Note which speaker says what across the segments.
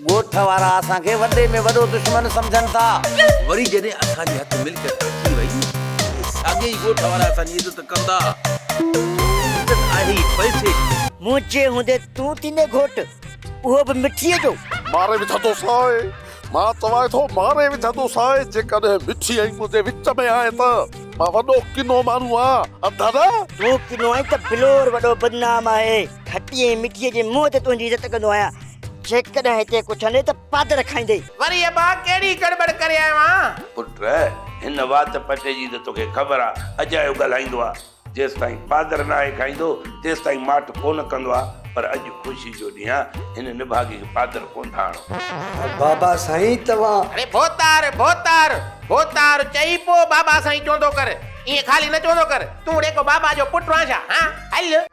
Speaker 1: ڳوٺ وارا اسان
Speaker 2: کي وڏي ۾ وڏو دشمن سمجهن ٿا. وري جڏهن
Speaker 1: اسان جي هٿ ملڪيت اچي وئي ته ساڳي ئي ڳوٺ وارا اسان جي عزت ڪندا. عزت آهي ئي پئسي جي. منهنجي هوندي
Speaker 2: تون ٿيندين گهوٽ، اهو به مٺيء جو. ماري وجهندوسانء،
Speaker 3: مان چوانء ٿو ماري وجهندوسانء، جيڪڏهن مٺي ۽ منهنجي وچ ۾ آهين ته مان وڏو ڪنو ماڻهو آهيان، اڌ نه! تون ڪنو آهين
Speaker 2: ته بلور وڏو بدنام آهي. گهٽيء ۽ مٽيء جي منهن تي تنهنجي عزت ڪندو آهيان. جيڪڏهن هتي ڪو چوندئي ته پادر کائيندي. وري ابا ڪهڙي گڙٻڙ ڪري آيو آهان؟ پٽ،
Speaker 1: هن وات پٽي جي ته توکي خبر آ، اڄ آيو ڳالهائيندو آ. جيستائين پادر ناهي کائيندو، تيستائين ماٺ ڪونه ڪندو آ. پر اڄ خوشي جو ڏينهن آ، هن نڀاڳي کي پادر ڪونه ٿا آڻو. بابا سائين
Speaker 4: توهان. اڙي ڀوتار،
Speaker 2: ڀوتار، ڀوتار چئي پوء بابا سائين چوندو ڪر. ائين خالي نه چوندو ڪر. تون اڙي ڪو بابا جو پٽ آن ڇا؟ هان، هل.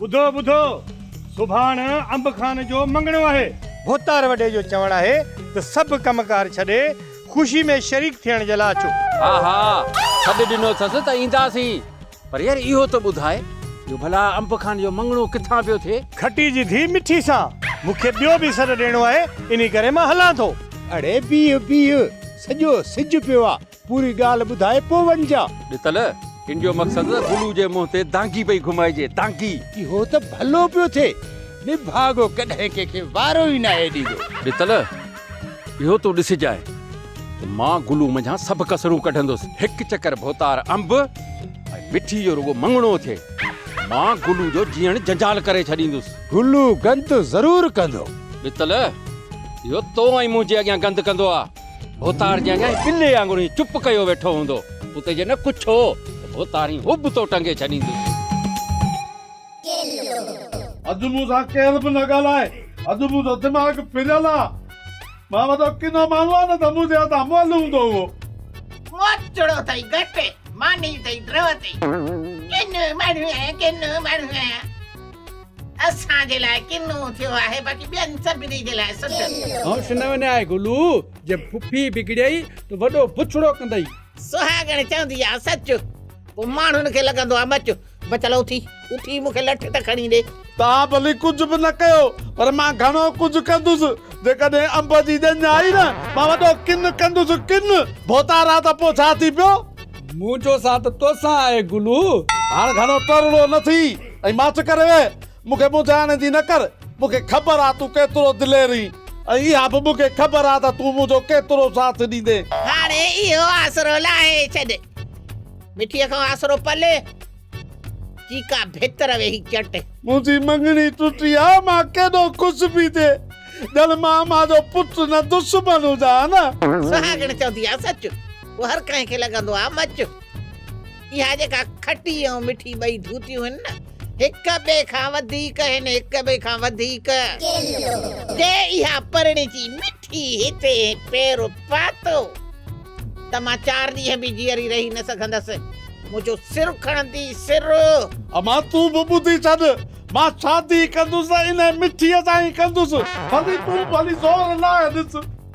Speaker 3: ٻڌو ٻڌو، سڀاڻ انب خان جو مڱڻو آهي. ڀوتار وڏي جو چوڻ آهي ته سڀ ڪم ڪار ڇڏي خوشي ۾ شريڪ ٿيڻ جي لاء اچو. ها ها،
Speaker 5: سڏ ڏنو اٿس ته اينداسين. پر يار اهو ته ٻڌاء جو ڀلا انب خان جو مڱڻو ڪٿان پيو ٿئي؟ گهٽي جي
Speaker 3: ڌيء مٺي سان، مون کي ٻيو به سڏ ڏيڻو آهي، انهي
Speaker 5: ڪري
Speaker 3: مان هلان ٿو. اڙي بيهه بيهه، سڄو سج پيو آ، پوري ڳالهه ٻڌائي پوء وڃجان. ڏتل، ان
Speaker 5: جو مقصد ته بلو جي منهن تي دانگي پئي گهمائجي، دانگي! اهو ته ڀلو
Speaker 3: پيو ٿئي، نڀاڳو ڪڏهن ڪنهن کي وارو ئي ناهي ڏيندو. ڏتل،
Speaker 5: اهو تون ڏسجانء ته مان گلو منجهان سڀ ڪسرون ڪڍندس، هڪ چڪر ڀوتار انب ۽ مٺي جو رڳو مڱڻو ٿئي، مان گلو جو جيئڻ جنجال ڪري ڇڏيندس. گلو گند
Speaker 3: ضرور ڪندو. ڏتل،
Speaker 5: اهو تو ۽ منهنجي اڳيان گند ڪندو آ. ڀوتار جي اڃا بلي وانگر هي چپ ڪيو ويٺو هوندو اتي جي نه ڪڇ هو ته ڀوتار هي هب تو ٽنگي ڇڏيندي.
Speaker 6: اڄ مون سان ڪير به نه ڳالهائي اڄ منهنجو دماغ ڦريل آ مان وڏو ڪنو ماڻهو آ نه ته منهنجي هٿان مئل هوندو هئو. موچڙو ٿئي گهٽ ماني ٿئي
Speaker 4: ڊرو ٿئي ڪنو ماڻهو آهيان ڪنو ماڻهو آهيان. اسان جي لاء ڪنو ٿيو آهي باقي ٻين سڀني جي لاء سٺ ٿيو. هونس
Speaker 7: نه وڃاء گلو، جي ڦڦي بگڙيئي ته وڏو بڇڙو ڪندئي. سهاڳڻ چوندي
Speaker 4: آ سچ، پوء ماڻهن کي لڳندو آ مچ. بچل اٿي اٿي مون کي لٺ ته کڻي ڏي. توهان ڀلي ڪجهه
Speaker 6: به نه ڪيو پر مان گهڻو ڪجهه ڪندس. جيڪڏهن انب جي ڄڃ آئي نه، مان وڏو ڪن ڪندس ڪن. ڀوتار آ ته پوء ڇا ٿي پيو. منهنجو ساٿ
Speaker 7: توسان آهي گلو. هاڻ گهڻو
Speaker 6: ٽرڙو نه ٿي. ائين ماٺ ڪري ويهه، مون کي مونجهائڻ جي نه ڪر، مون کي خبر آ تون ڪيترو دلير اهين، ۽ اها به مون کي خبر آ ته تون منهنجو ڪيترو ساٿ ڏيندين. هاڻي اهو
Speaker 4: آسرو لاهي ڇڏ. مٺيء کان آسرو پلي جي ڪا ڀتر ويهي چٽ. منهنجي مڱڻي
Speaker 6: ٽٽي آ، مان ڪيڏو خوش پي ٿئي، ڄڻ مان امان جو پٽ نه دشمن هجان ها نه. سهاڳڻ چوندي
Speaker 4: آ سچ، پوء هر ڪنهن کي لڳندو آ مچ. اها جيڪا کٽي ۽ مٺي ٻئي ڌوتيون هن نه هڪ ٻئي کان وڌيڪ هن هڪ ٻئي کان وڌيڪ جي اها پرڻجي مٺي هتي پير پاتو ته مان چار ڏينهن به جيئري رهي نه سگهندس منهنجو سر کڻندي سر اما تون
Speaker 6: به ٻڌي ڇڏ مان شادي ڪندس انهي مٺي سان ئي ڪندس ڀلي تون ڀلي زور لاء ڏس.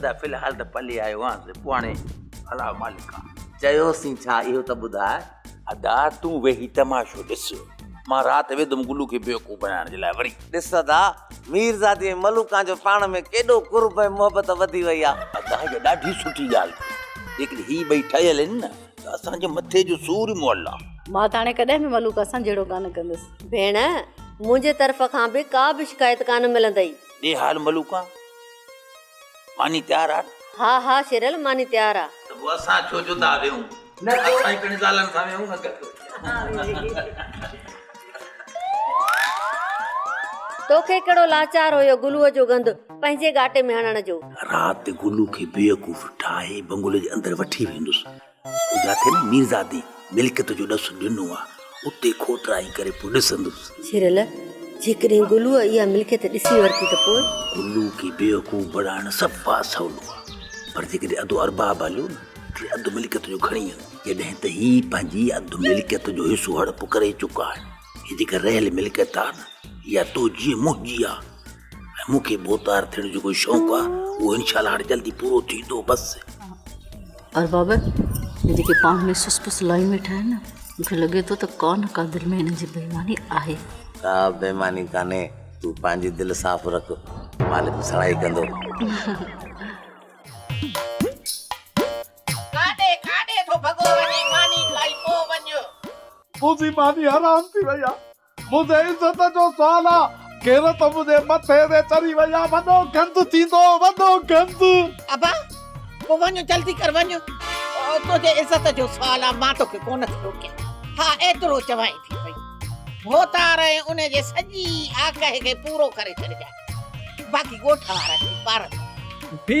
Speaker 2: ادا في الحال
Speaker 8: ته پلي آيو آهيانس پوء هاڻي الا مالڪ آ. چيوسين ڇا
Speaker 2: اهو ته ٻڌاء. ادا تون
Speaker 8: ويهي تماشو ڏس مان رات ويندم گلو کي بيوقوف بنائڻ جي لاء وري. ڏس ادا
Speaker 2: ميرزادي ۽ ملوڪان جو پاڻ ۾ ڪيڏو قرب ۽ محبت وڌي وئي آ. ادا هيء ڏاڍي
Speaker 8: سٺي ڳالهه ٿي جيڪڏهن هي ٻئي ٺهيل هن نه ته اسان جي مٿي جو سور ئي مئل آ. مان ته هاڻي ڪڏهن به
Speaker 9: ملوڪ اسان جهڙو ڪانه ڪندس. ڀيڻ
Speaker 10: منهنجي طرف کان به ڪا به شڪايت ڪانه ملندئي. ڏي حال ملوڪان.
Speaker 8: ماني تيار آ نه؟ ها ها شيرل
Speaker 10: ماني تيار آ. ته پوء اسان ڇو جدا
Speaker 8: ويهون. اسان ئي پڻ زالن سان ويهون
Speaker 10: نه گڏ. توکي ڪهڙو لاچار هيو گلوء جو گند پنهنجي ڳاٽي ۾ هڻڻ جو. رات گلو
Speaker 8: کي بيوقوف ٺاهي بنگلي جي اندر وٺي ويندس. جاتي نه ميرزادي ملڪيت جو ڏس ڏنو آ، اتي کوٽرائي ڪري پوء ڏسندس. جيرل،
Speaker 10: جيڪڏهن گلوء اها ملڪيت ڏسي ورتي ته پوء؟ گلوء کي بيوقوف
Speaker 8: بڻائڻ سڀ مان سولو آ، پر جيڪڏهن اڌو ارباب هليو نه، ٽي اڌ ملڪيت جو کڻي هل. جڏهن ته هي پنهنجي اڌ ملڪيت جو حصو هڙپ ڪري چڪا آهن. هي جيڪا رهيل ملڪيت آ نه اها تنهنجي منهنجي آ ۽ مون کي بوتار ٿيڻ جو ڪو شوق آ اهو انشاء الله هاڻي جلدي پورو ٿيندو بس
Speaker 9: ارباب هي جيڪي پاڻ ۾ سس پس لائي ويٺا آهن نه مون کي لڳي ٿو ته ڪا نه ڪا دل ۾ هنن جي بيماني آهي ڪا بيماني
Speaker 2: ڪانهي تون پنهنجي دل صاف رک مالڪ سڙائي ڪندو
Speaker 4: ڪاڏي ڪاڏي ٿو ڀڳو وڃي ماني کائي پو وڃ. منهنجي
Speaker 6: ماني حرام ٿي وئي آ منهنجي عزت جو سوال آ. غيرت منهنجي مٿي تي چڙهي وئي آ وڏو گند ٿيندو وڏو گند. ابا
Speaker 4: پو وڃ جلدي ڪر وڃ تنهنجي عزت جو سوال آ مان توکي ڪونه ٿي روڪيان ها ايترو چوائين ٿي پئي ڀوتار ۽ ان جي سڄي آگهه کي پورو ڪري ڇڏجانء باقي ڳوٺ وارن جي پارت. ڀي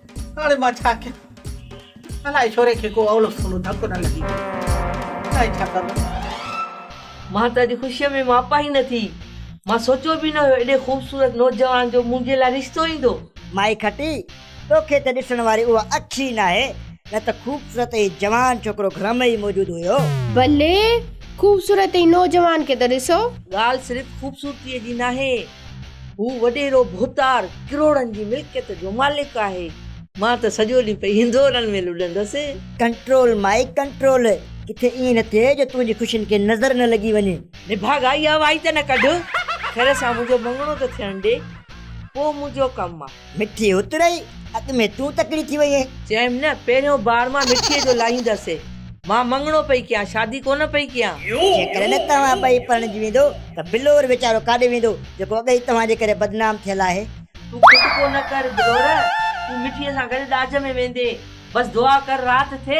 Speaker 4: هاڻي مان ڇا ڪيان؟ الاء ڇوري کي ڪو اولو سولو ڌڪ نه لڳي ويو. هاڻي ڇا ڪبو؟
Speaker 11: مان ته اڄ خوشيء ۾ ماپا ئي نه ٿي. مان سوچيو به نه هيو ايڏي خوبصورت نوجوان جو منهنجي لاء رشتو ايندو. مائي کٽي،
Speaker 2: توکي ته ڏسڻ واري اها اک ئي ناهي، نه ته خوبصورت ۽ جوان ڇوڪرو گهر ۾ ئي موجود هيو. بلي،
Speaker 12: خوبصورت ۽ نوجوان کي ته ڏسو. ڳالهه صرف
Speaker 11: خوبصورتيء جي ناهي. هو وڏيرو ڀوتار ڪروڙن جي ملڪيت جو مالڪ آهي. مان ته سڄو ڏينهن پئي هندورن ۾ لڏندس. ڪنٽرول مائي
Speaker 2: ڪنٽرول. ڪٿي ائين نه ٿئي جو تنهنجي خوشين کي نظر نه لڳي وڃي. نڀاڳا اها وائي
Speaker 11: ته نه ڪڍ. خير سان منهنجو مڱڻو ته ٿيڻ ڏي. پوء منهنجو ڪم آ. مٺي اترئي،
Speaker 2: اڳ ۾ تون تڪڙي ٿي وئي اهين. چيم نه، پهريون
Speaker 11: بار مان مٺيء جو لاهيندس. مان مڱڻو پئي ڪيان، شادي ڪونه پئي ڪيان. جيڪڏهن توهان
Speaker 2: ٻئي پرڻجي ويندو ته بلور ويچارو ڪاڏي ويندو، جيڪو اڳ ئي توهان جي ڪري بدنام ٿيل آهي. تون کٽڪو
Speaker 11: نه ڪر بلور، تون مٺيء سان گڏ ڏاج ۾ ويندين. بس دعا ڪر رات ٿئي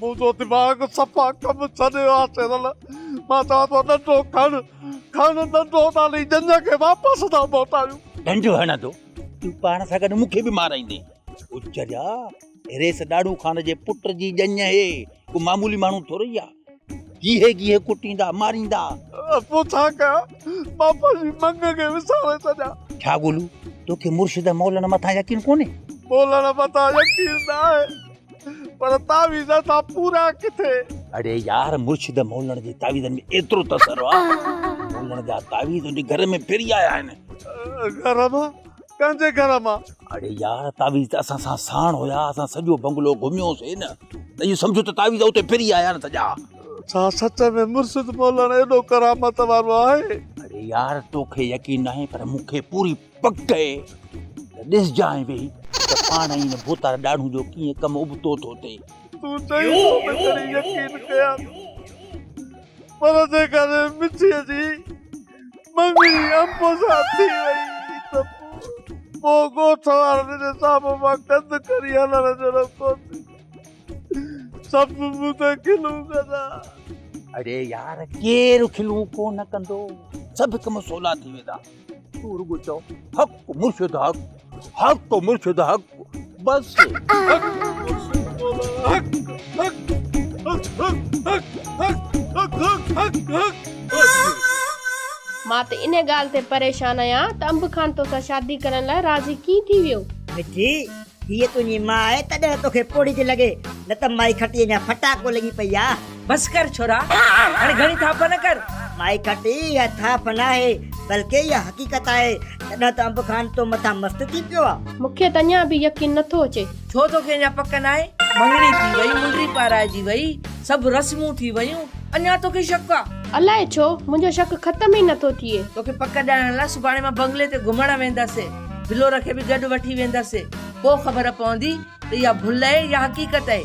Speaker 8: منهنجو دماغ
Speaker 6: صفا ڪم ڇڏي ويو آهي سيرل مان چوان ٿو ڏنڊو کڻ کڻ ڏنڊو نالي ڄڃ کي واپس ٿا موٽايون ڏنڊ هڻندو
Speaker 8: تون پاڻ سان گڏ مون کي به مارائيندين اچ جا ريس ڏاڙهون خان جي پٽ جي ڄڃ هي ڪو معمولي ماڻهو ٿورئي آ گيهي گيهي ڪٽيندا ماريندا پوء ڇا
Speaker 6: ڪيان مان پنهنجي منگ کي وساري ڇڏيان ڇا گولو
Speaker 8: توکي مرشد مولڻ مٿان يقين ڪونهي مولڻ مٿان
Speaker 6: يقين نه آهي پر تعويذ اسان پورا ڪٿي. اڙي يار
Speaker 8: مرشد مولڻ جي تعويذن ۾ ايترو تسر آ مولڻ جا تعويذ انهي گهر ۾ ڦري آيا آهن. گهر مان
Speaker 6: ڪنهن جي گهر مان. اڙي يار تعويذ
Speaker 8: ته اسان سان ساڻ هيا اسان سڄو بنگلو گهميو سي نه ته اهو سمجهو ته تعويذ اتي ڦري آيا آهن سڄا. ڇا سچ
Speaker 6: ۾ مرشد مولڻ ايڏو ڪرامت وارو آهي. اڙي يار
Speaker 8: توکي يقين ناهي پر مونکي پوري. پڪ ڪئي ته ڏسجانء ويهي ته پاڻ ۽ ان ڀوتار ڏاڙهون جو ڪيئن ڪم ابتو ٿو ٿئي. تون چئين ٿو
Speaker 6: ته ڪري يقين ڪيان، پر جيڪڏهن مٺيء جي مڱڻي امڀ سان ٿي ويئي ته پوء ڳوٺ وارن جي سامهون مان ڪنڌ ڪري هلڻ جهڙو ڪونٿي. سڀ مون تي کلون ڪندا. اڙي
Speaker 8: يار، ڪير کلون ڪونه ڪندو؟ سڀ ڪم سولا ٿي ويندا. تون رڳو چئو حق مرشد حق حق مرشد حق بس
Speaker 12: مان ته ان ڳالهه تي پريشان آهيان ته انب خان توسان شادي ڪرڻ لاء راضي ڪيئن ٿي ويو مٺي
Speaker 2: هيء تنهنجي ماء آهي تڏهن توکي پوڙهي ٿي لڳي نه ته مائي کٽيء اڃا ڦٽاڪو لڳي پئي آهي بس ڪر ڇورا
Speaker 11: هاڻي گهڻي ٿاڦ نه ڪر. مائي کٽي
Speaker 2: اها ٿاڦ ناهي بلڪه اها حقيقت آهي تڏهن ته انب خان تو مٿان مست ٿي پيو آ. مون کي ته اڃا به يقين
Speaker 12: نه ٿو اچي. ڇو توکي اڃا پڪ
Speaker 11: ناهي؟ مڱڻي ٿي وئي، منڊي پارائجي وئي، سڀ رسمون ٿي ويون، اڃا توکي شڪ آ؟ الاء ڇو منهنجو
Speaker 12: شڪ ختم ئي نه ٿو ٿئي. توکي پڪ ڏيارڻ لاء
Speaker 11: سڀاڻي مان بنگلي تي گهمڻ وينداسين. بلور کي به گڏ وٺي وينداسين. پوء خبر پوندي ته اها ڀل اهي يا حقيقت اهي.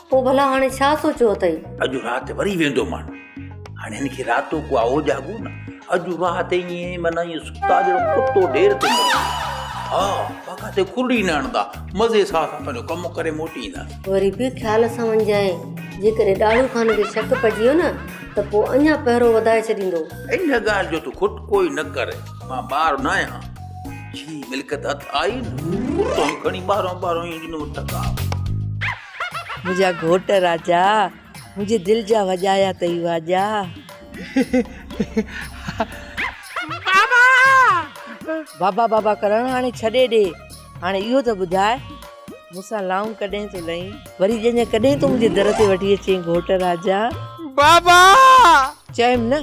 Speaker 8: پوء ڀلا هاڻي ڇا
Speaker 10: سوچيو اٿئي؟ اڄ رات وري
Speaker 8: ويندومان. هاڻي هن کي راتو ڪو آهو جاڳو نه. اڄ رات ائين معنيٰ ائين ستا ڄڻ ڪتو ڍير تي مري ويو. ها ها ڪٿي کلڙي نه هڻندا. مزي سان اسان پنهنجو ڪم ڪري موٽي اينداسين. وري به خيال
Speaker 10: سان وڃجانء. جيڪڏهن ڏاڙهو خان کي شڪ پئجي ويو نه ته پوء اڃا پهرو وڌائي ڇڏيندو. ان ڳالهه جو
Speaker 8: تون کٽڪو ئي نه ڪر. مان ٻار نه آهيان. جي ملڪيت هٿ آئي نه، توهين کڻي ٻاهران ٻاهران ائين ڏنو ٺڪاء.
Speaker 11: منهنجا
Speaker 8: گهوٽ
Speaker 11: راجا
Speaker 8: منهنجي
Speaker 11: دل جا وڄايا اٿئي واڄا. بابا! بابا بابا ڪرڻ هاڻي ڇڏي ڏي هاڻي اهو ته ٻڌاء مون سان لانگ ڪڏهن ٿو لهين وري ڄڃ ڪڏهن تون منهنجي در تي وٺي اچين گهوٽ راجا. بابا!
Speaker 6: چيم
Speaker 11: نه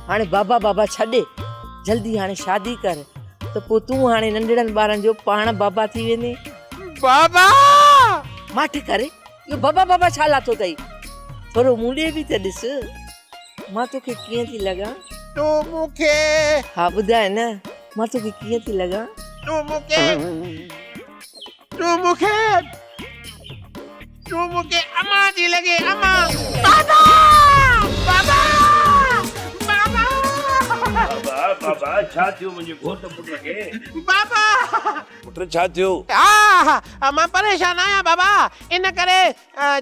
Speaker 11: هاڻي بابا بابا ڇڏ جلدي هاڻي شادي ڪر ته پوء تون هاڻي ننڍڙن ٻارن جو پاڻ بابا ٿي ويندين. بابا! ماٺ ڪر، اهو بابا بابا ڇا لاتو اٿئي؟ ٿورو مون ڏي به ته ڏس، مان توکي ڪيئن ٿي لڳان؟ تون مون کي.
Speaker 6: ها ٻڌاء
Speaker 11: نه، مان توکي ڪيئن ٿي لڳان؟ تون مون کي.
Speaker 6: تون مون کي. تون مون کي امان ٿي لڳين، امان. بابا! بابا! بابا! بابا! بابا!
Speaker 1: ڇا ٿيو منهنجي گهوٽ پٽ کي؟ بابا!
Speaker 6: پٽ
Speaker 1: ڇا ٿيو؟ آه!
Speaker 6: مان پريشان آهيان بابا، ان ڪري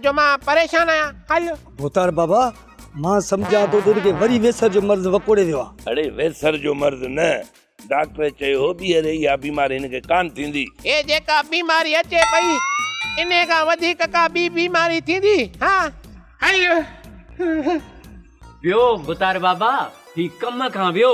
Speaker 6: جو مان پريشان آهيان. هل! ڀوتار بابا،
Speaker 7: مان سمجهان ٿو ته هن کي وري ويسر جو مرض وڪوڙي ويو آهي. اڙي ويسر جو
Speaker 1: مرض نه، ڊاڪٽر چيو هو ٻيهر اها بيماري هن کي ڪانه ٿيندي. هي جيڪا
Speaker 6: بيماري اچي پئي، انهي کان وڌيڪ ڪا ٻي بيماري ٿيندي؟ ها! هل!
Speaker 7: ويو ڀوتار بابا، هي ڪم کان ويو.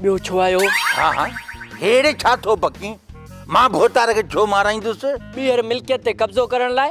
Speaker 7: ٻيو ڇو آيو؟ ها ها
Speaker 8: هيڙي ڇا ٿو بڪين؟ مان ڀوتار کي ڇو مارائيندس؟ ٻيهر ملڪيت تي
Speaker 7: قبضو ڪرڻ لاء.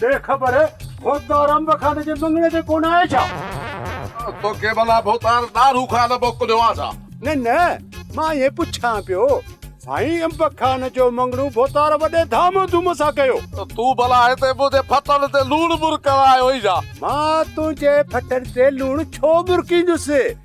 Speaker 3: ڏي خبر، ڀوتار انب خان جي مڱڻي تي ڪونه آهي ڇا؟ توکي
Speaker 6: ڀلا ڀوتار ڏاڙهو خان موڪليو آهي ڇا؟ نه نه،
Speaker 3: مان ائين پڇان پيو. سائين انب خان جو مڱڻو ڀوتار وڏي ڌام ڌوم سان ڪيو. تون ڀلا هتي
Speaker 6: منهنجي ڦٽن تي لوڻ مرڪڻ آيو آهين ڇا؟ مان تنهنجي
Speaker 3: ڦٽن تي لوڻ ڇو مرڪيندس؟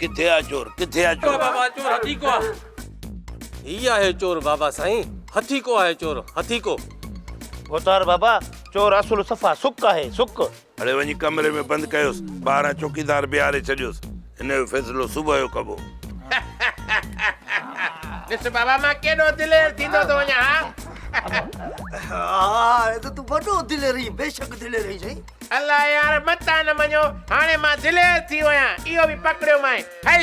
Speaker 1: ڪٿي آ چور ڪٿي آ چور بابا چور هٿي ڪو آ
Speaker 5: هي
Speaker 13: آهي چور بابا سائين هٿي ڪو آهي چور هٿي ڪو اوتار
Speaker 8: بابا چور اصل صفا سڪ آهي سڪ هڙي وڃي ڪمري
Speaker 1: ۾ بند ڪيوس. ٻاهران چوڪيدار بيهاري ڇڏيوس. هن جو فيصلو صبح جو ڪبو.
Speaker 4: ڏس بابا مان ڪيڏو دلير ٿيندو ٿو وڃان ها. ها
Speaker 2: هاڻي ته تون وڏو دلير آهين. بيشڪ دلير آهين سائين. الله يار
Speaker 4: متان نه مڃو هاڻي مان دلير ٿي ويان اهو به پڪڙيومانء هل.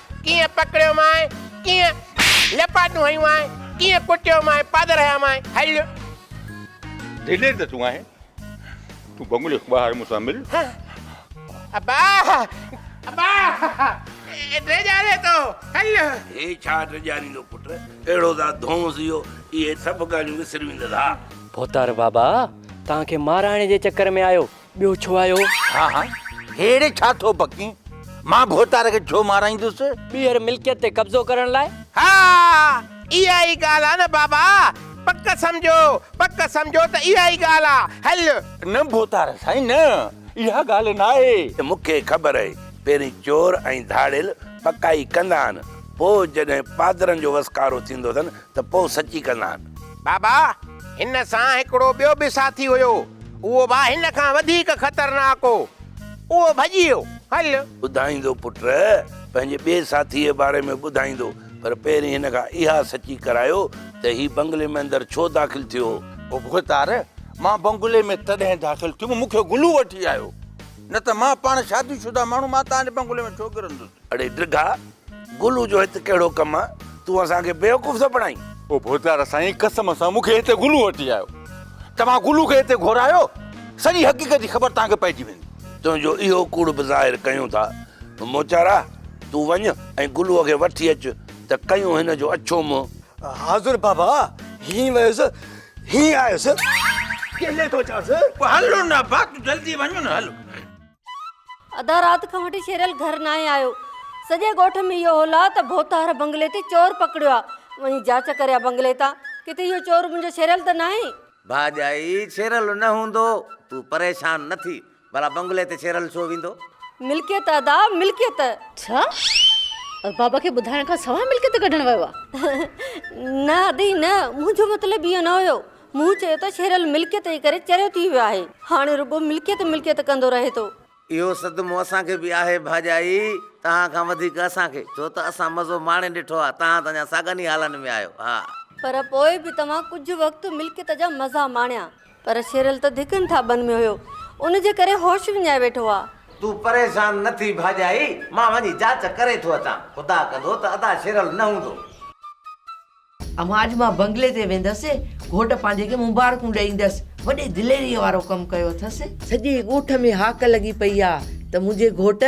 Speaker 4: ڪيئن پڪڙيو مانء، ڪيئن لپاٽون هنيون مانء، ڪيئن ڪٽيو مانء، پادر هنيا مانء، هل!
Speaker 8: دلير ته تون آهين، تون بنگلي کان ٻاهر مون سان مل.
Speaker 4: ابا! ابا! ڊيڄاري ٿو، هل! هي ڇا
Speaker 1: ڊيڄاريندو پٽ، اهڙو ته ڌونس اهو، اهي سڀ ڳالهيون وسري ويندس ها! ڀوتار بابا،
Speaker 13: توهان کي مارائڻ جي چڪر ۾ آيو، ٻيو ڇو آيو؟ ها ها
Speaker 8: هيڙي ڇا ٿو بڪين؟ مان ڀوتار کي ڇو مارايندس؟ ٻيهر ملڪيت تي
Speaker 13: قبضو ڪرڻ لاء؟ ها اها
Speaker 4: ئي ڳالهه آ نه بابا. پڪ سمجهو پڪ سمجهو ته اها ئي ڳالهه آ. هل. نه ڀوتار
Speaker 8: سائين نه اها ڳالهه ناهي. مون کي خبر آهي
Speaker 1: پهرين چور ۽ ڌاڙيل پڪائي ڪندا آهن پوء جڏهن پادرن جو وسڪارو ٿيندو اٿن ته پوء سچي ڪندان. بابا،
Speaker 4: هن سان هڪڙو ٻيو به ساٿي هيو، اهو به هن کان وڌيڪ خطرناڪ هو. اهو ڀڄي ويو. هل! ٻڌائيندو پٽ،
Speaker 1: پنهنجي ٻئي ساٿيء جي باري ۾ ٻڌائيندو، پر پهرين هن کان اها سچي ڪرايو ته هي بنگلي ۾ اندر ڇو داخل ٿيو هو؟ مختار،
Speaker 8: مان بنگلي ۾ تڏهن داخل ٿيم، مون کي گلو وٺي آيو، نه ته مان پاڻ شادي شده ماڻهو، مان توهان جي بنگلي ۾ ڇو ڪرندس؟ اڙي ڊگها،
Speaker 1: گلو جو هت ڪهڙو ڪم آ؟ تون اسان کي بيوقوف ٿو بڻائين؟ او ڀوتار سائين
Speaker 8: قسم سان مون کي هتي گلو وٺي آيو. توهان گلو کي هتي گهرايو، سڄي حقيقت جي خبر توهان کي پئجي ويندي. تنهنجو اهو ڪوڙ
Speaker 1: به ظاهر ڪيون ٿا. موچارا تون وڃ ۽ گلوء کي وٺي اچ ته ڪيون هن جو اڇو منهن. حاضر بابا،
Speaker 2: هينئن ويس، هينئن آيس. ڪيلي ٿو چانس. هل نبا
Speaker 8: تون جلدي وڃ نه هل.
Speaker 10: اڌا رات کان وٺي شيرل گهر ناهي آيو. سڄي ڳوٺ ۾ اهو هول آ ته ڀوتار بنگلي تي چور پڪڙيو آ. وڃي جاچ ڪري آ بنگلي تان. ڪٿي اهو چور منهنجو شيرل ته ناهي؟ ڀاڄائي
Speaker 13: شيرل نه هوندو. تون پريشان نه ٿي. ڀلا بنگلي تي شيرل ڇو ويندو؟ ملڪيت ادا
Speaker 10: ملڪيت. ڇا؟
Speaker 9: ارباب کي ٻڌائڻ کان سواء ملڪيت ڪڍڻ ويو آ؟ نه
Speaker 10: ادي نه منهنجو مطلب اهو نه هيو. مون چيو ته شيرل ملڪيت جي ڪري چريو ٿي ويو آهي، هاڻي رڳو ملڪيت ملڪيت ڪندو رهي ٿو. اهو صدمو
Speaker 13: اسان کي به آهي ڀاڄائي، توهان کان وڌيڪ اسان کي، ڇو ته اسان مزو ماڻي ڏٺو آهي، توهان ته اڃا ساڳن ئي حالن ۾ آهيو. ها! پر پوء به
Speaker 10: توهان ڪجهه وقت ملڪيت جا مزا ماڻيا. پر شيرل ته ڌڪن ٿاٻن ۾ هيو، ان جي ڪري هوش وڃائي ويٺو آهي. تون پريشان
Speaker 13: نه ٿي ڀاڄائي، مان وڃي جاچ ڪري ٿو اچان، خدا ڪندو ته ادا شيرل نه هوندو.
Speaker 11: اما اڄ مان بنگلي تي ويندس، گهوٽ پنهنجي کي مبارڪون ڏيندس، وڏي دليريء وارو ڪم ڪيو اٿس. سڄي ڳوٺ ۾ هاڪ لڳي پئي آ ته منهنجي گهوٽ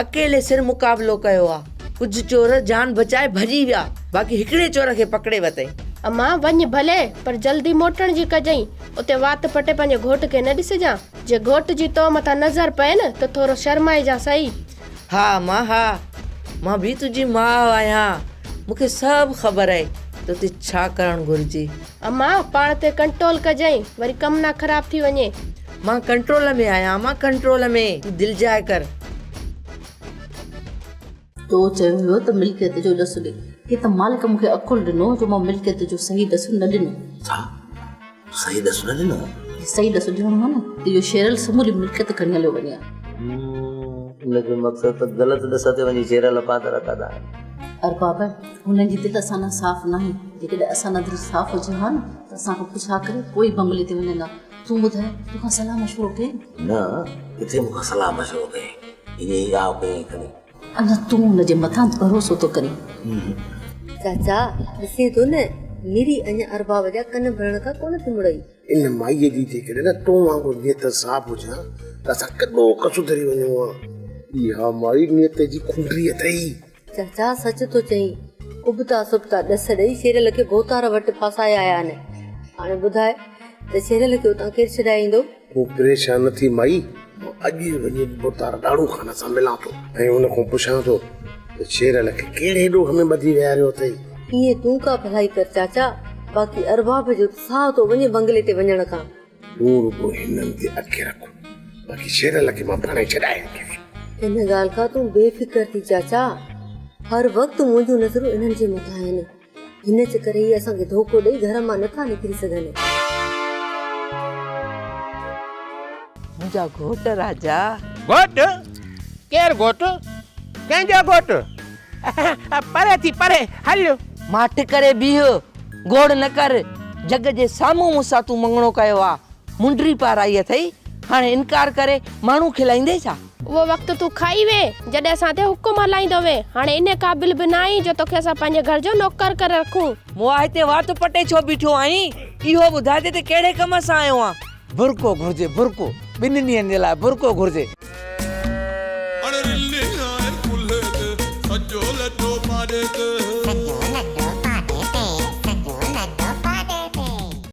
Speaker 11: اڪيلي سر مقابلو ڪيو آ. ڪجهه چور جان بچائي ڀڄي ويا، باقي هڪڙي چور کي پڪڙي ورتئين. اما وڃ
Speaker 12: ڀلي، پر جلدي موٽڻ جي ڪجئين. اتي وات پٽي پنهنجي گهوٽ کي نه ڏسجان. جي گهوٽ جي تو مٿان نظر پين ته ٿورو شرمائجان سهي. ها امان
Speaker 11: ها مان به تنهنجي ماء آهيان مون کي سڀ خبر آهي توتي ڇا ڪرڻ گهرجي امان پاڻ
Speaker 12: تي ڪنٽرول ڪجئين وري ڪم نه خراب ٿي وڃي مان ڪنٽرول
Speaker 11: ۾ آهيان امان ڪنٽرول ۾ تون دل جاء ڪر
Speaker 9: تو چيو هيو ته ملڪيت جو ڏس ڏي هي ته مالڪ مون کي عقل ڏنو جو مان ملڪيت جو صحيح ڏس نه ڏنو ڇا
Speaker 8: صحيح ڏس نه ڏنو صحيح ڏس ڏنو
Speaker 9: نه هو نه ته اهو شيرل سموري ملڪيت کڻي هليو وڃي ها
Speaker 13: ان جو مقصد ته غلط ڏس تي وڃي شيرل پاتر اڪد آهي ارباب
Speaker 9: هنن جي دل اسان ڏانهن صاف ناهي جيڪڏهن اسان ڏانهن دل صاف هجي ها نه ته اسان کان پڇا ڪري پوء ئي بمبلي تي وڃندا تون ٻڌاء تو کان صلاح مشورو ڪئين نه
Speaker 8: ڪٿي مون کان صلاح مشورو ڪئين انهي آء ڪيائين کڻي اڃا تون ان
Speaker 9: جي مٿان ڀروسو ٿو ڪرين؟
Speaker 10: چاچا ڏسين ٿو نه ميري اڃا ارباب جا ڪن ڀرڻ کان ڪونه ٿي مڙئي. ان مائيء جي
Speaker 14: جيڪڏهن نه تو وانگر نيت صاف هجي ها ته اسان ڪيڏو ڪو سڌري وڃون ها. اها مائي نيت جي کنڊري اٿئي. چاچا سچ
Speaker 10: ٿو چئين. ابتا سبتا ڏس ڏئي شيرل کي ڀوتار وٽ ڦاسائي آيا آهن. هاڻي ٻڌاء ته شيرل کي اتان ڪير ڇڏائيندو؟ هو پريشان
Speaker 14: ٿي مئي مان اڄ ئي وڃي بتار ڏاڙهو خان سان ملان ٿو ۽ ان کان پڇان ٿو ته شيرل کي ڪهڙي ڏوھ ۾ ٻڌي ويهاريو اٿئي. ايئن تون ڪا
Speaker 10: ڀلائي ڪر چاچا، باقي ارباب جو ته ساهه ٿو وڃي بنگلي تي وڃڻ کان. تون رڳو
Speaker 14: هنن تي اک رک، باقي شيرل کي مان پاڻهي ڇڏائي ايندس. ان
Speaker 10: ڳالهه کان تون بي فڪر ٿي چاچا، هر وقت منهنجون نظرون انهن جي مٿان آهن. هن چڪر هي اسان کي ڌوڪو ڏئي گهر مان نه ٿا نڪري سگهن.
Speaker 11: منهنجا گهوٽ راجا. گهوٽ؟
Speaker 2: ڪير گهوٽ؟ ڪنهن جا گهوٽ؟ پري ٿي پري هل. ماٺ ڪري
Speaker 11: بيهه، گوڙ نه ڪر، جڳ جي سامهون مون سان تون مڱڻو ڪيو آ، منڊري پارائي اٿئي، هاڻي انڪار ڪري ماڻهو کلائيندي ڇا؟ اهو وقت تون کائي
Speaker 12: وئين، جڏهن اسان تي حڪم هلائيندو وئين. هاڻي انهيء قابل به نه آهين جو توکي اسان پنهنجي گهر جو نوڪر ڪري رکون. مون آء هتي وات
Speaker 11: پٽي ڇو بيٺو آهين؟ اهو ٻڌاء ته تون ڪهڙي ڪم سان آيو آهين؟ برقعو گهرجي، برقعو. ٻن ڏينهن جي لاء برقعو گهرجي.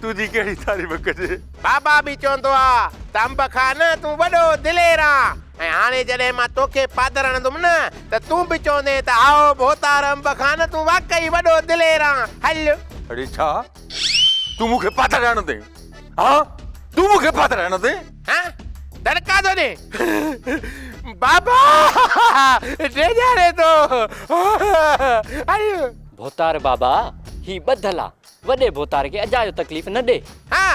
Speaker 3: تنهنجي ڪهڙي تعريف ڪجي. بابا به چوندو
Speaker 2: ها ته انب خان تون وڏو دلير آن ۽ هاڻي جڏهن مان توکي پادر هڻندم نه ته تون به چوندين ته هائو ڀوتار انب خان تون واقعي وڏو دلير آن هل. اڙي ڇا
Speaker 3: تون مون کي پادر هڻندين ها تون مون کي پادر هڻندين.
Speaker 2: ها دڙڪا ٿو ڏي. بابا ڊيڄاري ٿو هل. ڀوتار بابا
Speaker 7: هي ٻڌل آ وڏي ڀوتار کي اجايو تڪليف نه ڏي. ها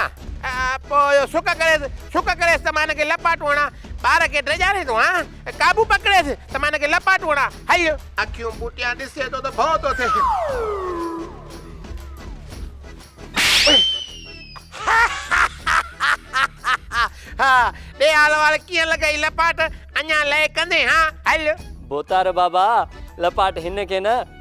Speaker 2: پوء اهو سڪ ڪريس، سڪ ڪريس ته مان هن کي لپاٽون هڻان. ٻار کي ڊيڄارين ٿو ها، قابو پڪڙيس ته مان هن کي لپاٽون هڻان. هيء. اکيون پٽيان ڏسي ٿو ته ڀؤ ٿو ٿئي. ها ڏي هال وال ڪيئن لڳئي لپاٽ، اڃا لئه ڪندين ها. هل. ڀوتار بابا
Speaker 7: لپاٽ هن کي نه.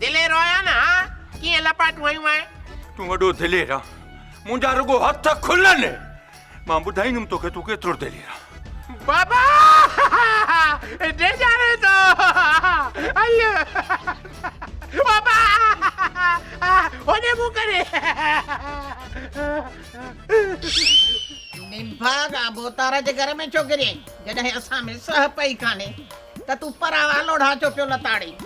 Speaker 2: دلير آهيان نه ها، ڪيئن لپاٽون هنيون آهن. تون وڏو دلير
Speaker 3: آهين، منهنجا رڳو هٿ کلن، مان ٻڌائيندم توکي تون ڪيترو دلير آهين. بابا
Speaker 2: ڊيڄاري ٿو ايء بابا هوڏي منهن ڪري.
Speaker 4: نڀا کان ڀوتار جي گهر ۾ ڇو گريئين، جڏهن اسان ۾ سهپ ئي ڪانهي ته تون پراوا لوڙها ڇو پيو لتاڙين.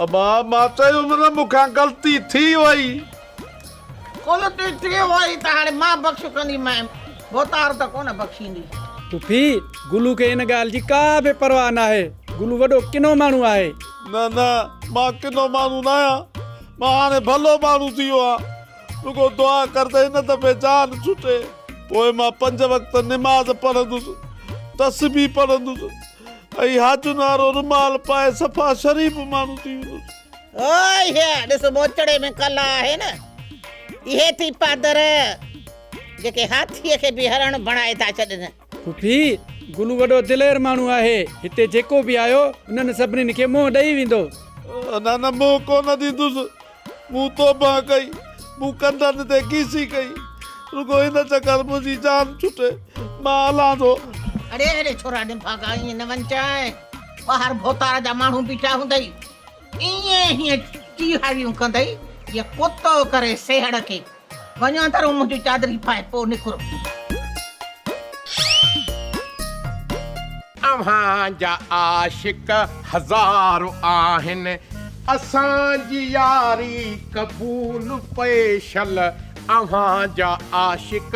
Speaker 4: ابا
Speaker 6: مان چيو مس مون کان غلطي ٿي وئي. غلطي ٿي وئي
Speaker 4: ته هاڻي مان بخش ڪندي مئين ڀوتار ته ڪونه بخشيندي. پڦي،
Speaker 7: گلو کي ان ڳالهه جي ڪا به پرواهه ناهي. گلو وڏو ڪنو ماڻهو آهي. نه نه
Speaker 6: مان ڪنو ماڻهو ناهيان. مان هاڻي ڀلو ماڻهو ٿي ويو آهيان. رڳو دعا ڪر ته هن دفعي جان ڇٽي. پوء مان پنج وقت نماز پڙهندس، تسبيح پڙهندس. اهي حاجن وارو رومال پائي صفا شريف ماڻهو ٿي ويندس. هوء هيء
Speaker 4: ڏس موچڙي ۾ ڪلا آهي نه. اهي ٿي پادر جيڪي هاٿيء کي به هرڻ بڻائي ٿا ڇڏن. ڦڦي،
Speaker 7: گلو وڏو دلير ماڻهو آهي. هتي جيڪو به آيو، انهن سڀني کي منهن ڏئي ويندو. نه نه
Speaker 6: منهن ڪونه ڏيندس. مون توبه ڪئي، مون ڪنڌن تي ڪيسي ڪئي، رڳو هن چڪر منهنجي جان ڇٽي، مان هلان ٿو. اڙي
Speaker 4: اڙي ڇورا نڀاڳا ائين نه وڃجانء، ٻاهر ڀوتار جا ماڻهو بيٺا هوندئي، ائين هيئن ٽيهاريون ڪندئي جيئن ڪتو ڪري سيهڙ کي. وڃان ٿا رون منهنجون چادري پائي پوء نڪرو. اوهان
Speaker 2: جا عاشق هزار آهن اسان جي ياري قبول پيشل اوهان جا عاشق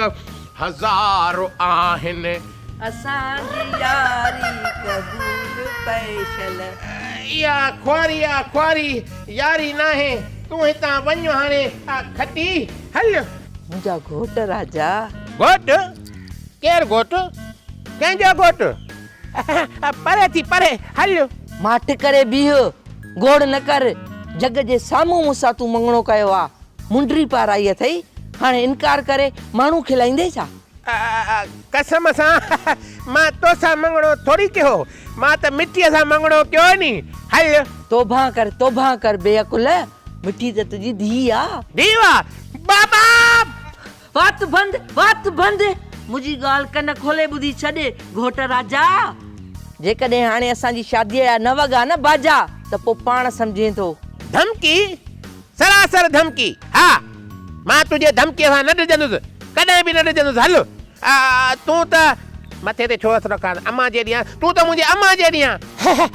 Speaker 2: هزار آهن. اسان
Speaker 11: جي ياري قبول پيشل. اها
Speaker 2: خواري آ خواري ياري ناهي تون هتان وڃ هاڻي آ کٽي هل. منهنجا
Speaker 11: گهوٽ راجا. گهوٽ؟
Speaker 2: ڪير گهوٽ؟ ڪنهن جا گهوٽ؟ پري ٿي پري هل. ماٺ ڪري
Speaker 11: بيهه گوڙ نه ڪر جڳ جي سامهون مون سان تون مڱڻو ڪيو آ منڊري پارائي اٿئي هاڻي انڪار ڪري ماڻهو کلائيندي ڇا. قسم
Speaker 2: سان مان توسان مڱڻو ٿوري ڪيو، مان ته مٺيء سان مڱڻو ڪيو ني. هل! توبهه ڪر، توبهه
Speaker 11: ڪر بي عقل، مٺي ته تنهنجي ڌيء آ. ڌيء آ؟
Speaker 2: بابا!
Speaker 11: وات بند، وات بند، منهنجي ڳالهه ڪن کولي ٻڌي ڇڏ، گهوٽ راجا! جيڪڏهن هاڻي اسان جي شاديء جا نه وڳا نه باجا ته پوء پاڻ سمجهين ٿو. ڌمڪي؟
Speaker 2: سراسر ڌمڪي، ها! مان تنهنجي ڌمڪيء کان نه ڊڄندس، ڪڏهن به نه ڊڄندس، هل! آء تون ته. مٿي تي ڇو هٿ رکان؟ امان جي ڏيان، تون ته منهنجي امان جي ڏيان. هه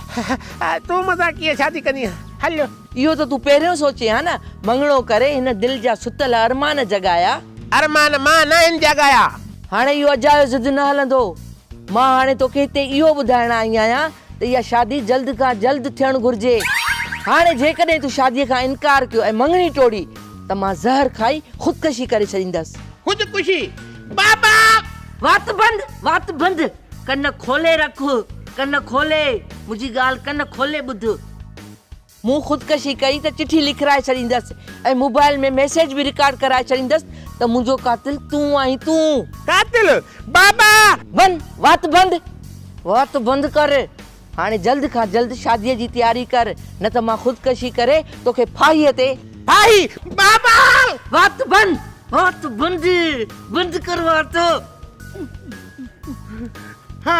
Speaker 2: هه، تون مون سان ڪيئن شادي ڪندينء؟ هل! اهو ته تون پهريون
Speaker 11: سوچين ها نه؟ مڱڻو ڪري هن دل جا ستل ارمان جڳايا. ارمان مان
Speaker 2: ناهن جڳايا. هاڻي اهو اجايو
Speaker 11: ضد نه هلندو. مان هاڻي توکي هتي اهو ٻڌائڻ آئي آهيان ته اها شادي جلد کان جلد ٿيڻ گهرجي. هاڻي جيڪڏهن تون شاديء کان انڪار ڪيو ۽ مڱڻي ٽوڙي ته مان زهر کائي خودڪشي ڪري ڇڏيندس. خودڪشي؟
Speaker 2: بابا! وات بند!
Speaker 11: وات بند! ڪن کولي رک! ڪن کولي! منهنجي ڳالهه ڪن کولي ٻڌ. مون خودڪشي ڪئي ته چٺي لکرائي ڇڏيندس ۽ موبائل ۾ ميسيج به رڪارڊ ڪرائي ڇڏيندس ته منهنجو قاتل تون آهين تون. قاتل،
Speaker 2: بابا! بن، وات بند!
Speaker 11: وات بند ڪر! هاڻي جلد کان جلد شاديء جي تياري ڪر نه ته مان خودڪشي ڪري توکي ڦاهيء تي. ڦاهي،
Speaker 2: بابا! وات بند!
Speaker 11: وات بند! بند ڪر وات! ها.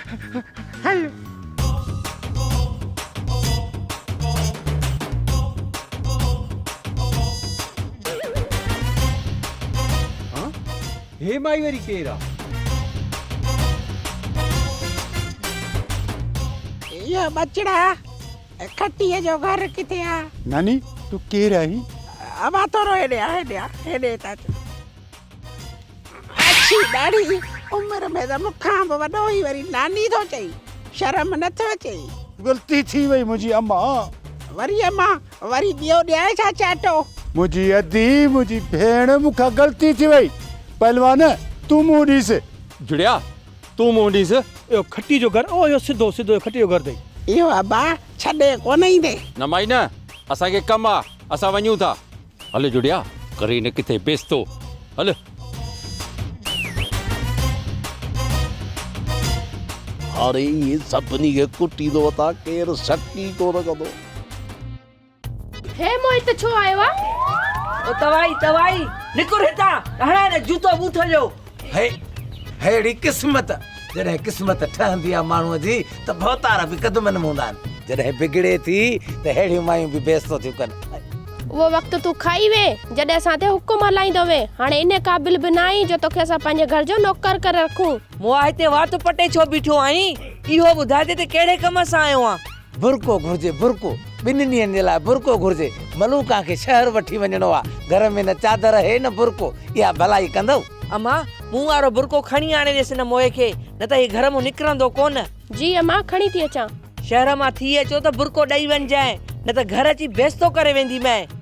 Speaker 2: هل.
Speaker 7: هي مائي وري ڪير آ.
Speaker 4: اهو ٻچڙا کٽيء جو گهر ڪٿي آ. ناني تون
Speaker 3: ڪير آهين. امان ٿورو
Speaker 4: هيڏي آ هيڏي آ هيڏي ته اچ. اڇي ڏاڙهي جي عمر ۾ ته مون کان به وڏو هي وري ناني ٿو چئي شرم نه ٿو اچئي. غلطي ٿي
Speaker 3: وئي منهنجي امان. وري امان
Speaker 4: وري ٻيو ڏيانء ڇا چاٽو. منهنجي ادي
Speaker 3: منهنجي ڀيڻ مون کان غلطي ٿي وئي پهلوان تون منهن ڏيس. جڙيا
Speaker 5: تون منهن ڏيس. اهو کٽي جو گهر
Speaker 3: اهو اهو سڌو سڌو اهو کٽي جو گهر اٿئي. اهو ابا ڇڏي
Speaker 4: ڪونه ايندي. نه مائي نه
Speaker 5: اسان کي ڪم آ اسان وڃون ٿا. هل جڙيا ڪري نه ڪٿي بيستو هل. هاڻي
Speaker 14: ايئن سڀني کي ڪٽيندو وتان ڪير سڪي ڪونه ڪندو. هي
Speaker 12: موهت ڇو آيو آ. او توائي
Speaker 11: توائي نڪر هتان هڻان هن جوتو بوٿ جو. هي
Speaker 13: ههڙي قسمت جڏهن قسمت ٺهندي آ ماڻهو جي ته ڀوتار به قدمن ۾ هوندا آهن جڏهن بگڙي ٿي ته ههڙيون مايون به بيستو ٿيون ڪن اهو وقت
Speaker 12: تون کائي وين جڏهن اسان تي حڪم هلائيندو هوين هاڻي ان قابل به ناهين جو توکي اسان پنهنجي گهر جو نوڪر ڪري رکون. مون آهستي وات
Speaker 11: پٽي ڇو بيٺو آهين اهو ٻڌاء ته تي ڪهڙي ڪم سان آيو آهين. برقعو گهرجي برقعو.
Speaker 13: ٻنهن ڏينهن جي لاء برقعو گهرجي. ملوڪان کي شهر وٺي وڃڻو آ. گهر ۾ نه چادر هي نه برقعو. اها ڀلائي ڪندؤ. اما، مون
Speaker 11: وارو برقعو کڻي آڻي ڏيس هن موئي کي. نه ته هي گهر مان نڪرندو ڪونه. جي اما، کڻي
Speaker 12: ٿي اچان. شهر مان ٿي
Speaker 11: اچو ته برقعو ڏئي وڃجانء. نه ته گهر اچي بيستو ڪري وينديمانء.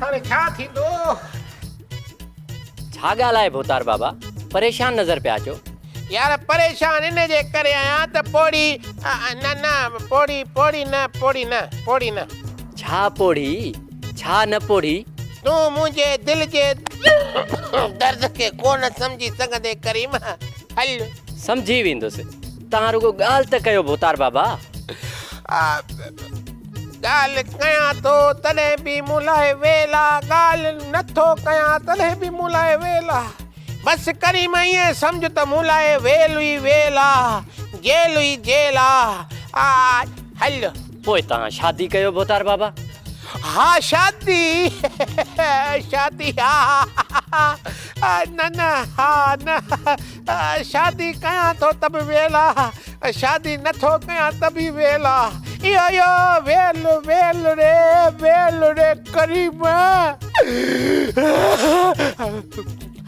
Speaker 2: هاڻي
Speaker 15: ڇا ٿيندو؟ ڇا ڳالهه آهي ڀوتار بابا، پريشان نظر پيا اچو. يار پريشان
Speaker 2: ان جي ڪري آهيان ته پوڙهي نه نه پوڙهي پوڙهي نه پوڙهي نه پوڙهي نه. ڇا پوڙهي
Speaker 15: ڇا نه پوڙهي؟ تون منهنجي
Speaker 2: دل جي درد کي ڪونه سمجهي سگهندين ڪريم هل. سمجهي ويندس.
Speaker 15: توهان رڳو ڳالهه ته ڪيو ڀوتار بابا. آء
Speaker 2: ڳالهه ڪيان ٿو تڏهن به مون لاء ويل آ، ڳالهه نه ٿو ڪيان تڏهن به مون لاء ويل آ. بس ڪريم ائين سمجهه ته مون لاء ويل ئي ويل آ، جيل ئي جيل آ. آء هل. پوء
Speaker 15: توهان شادي ڪيو ڀوتار بابا. ها
Speaker 2: شادي شادي ها ها ها ها نه نه ها نه. شادي ڪيان ٿو ته به ويل آ، شادي نه ٿو ڪيان ته به ويل آ. اهو اهو ويل ويل ري ويل ري ڪريم.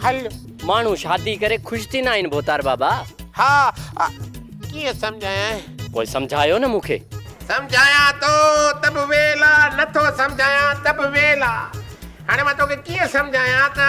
Speaker 2: هل. ماڻهو
Speaker 15: شادي ڪري خوش ٿيندا آهن ڀوتار بابا. ها
Speaker 2: ڪيئن سمجهايانء. پوء سمجهايو نه مون کي. سمجهايان ٿو ته
Speaker 15: به ويل آ، نه ٿو سمجهايان ته
Speaker 2: به ويل آ. هاڻي مان توکي ڪيئن سمجهايان ته.